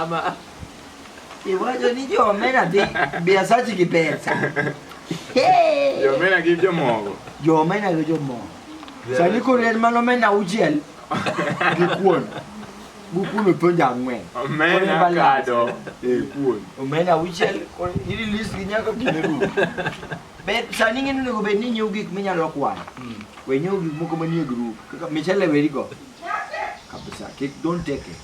Ama iwacho ni jomena dhi biasachi gi pesa. Hey! Jomena gi jomogo. Jomena gi jomogo. Sani koro en mano mena auchiel gi kuon. Gukuno e penjo ang'wen. Omena kado. Kuon. Omena auchiel. Ili list gi nyaka kine Ber sani ng'e ni onego bed ni inyiew gik minyalo kwano. We nyiew gik moko manie group kaka michele weri go. Kabisa, kik don't take it.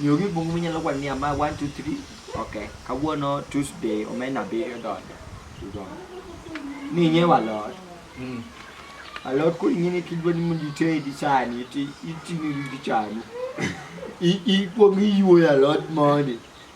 Nyiew gik moko minyalo kwano ni ama 1 2 3. Okay, kawuono Tuesday omena abiriyo donjo. Udonjo. Ni nyiew alot. Mm. Alot koro ing'e ni kidwa ni mondo itedi sani ti iting'o gi chanu. I- Ikwongo iyuoyo alot mondi.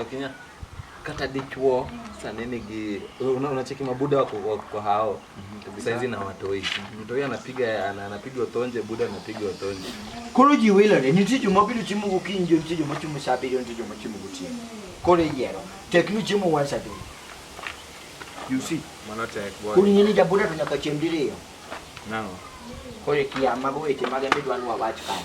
Akinya kata dichuo sani nigi una- unacheki mabuda wako wako kwa hao saizi na watoi mtoi anapiga ana- anapiga otonje buda anapiga otonje Koro ji wilore, nitie joma biro chiemo gokinyi, nitie joma chiemo saa abiriyo, nitie joma chiemo gotieno. Koro iyiero, tek ni chiemo once a day. You see? Mano tek boy. Koro ing'e ni jabuda to nyaka chiem diriyo. Nang'o? Koro ikia mago weche mage midwa ni wawach kae.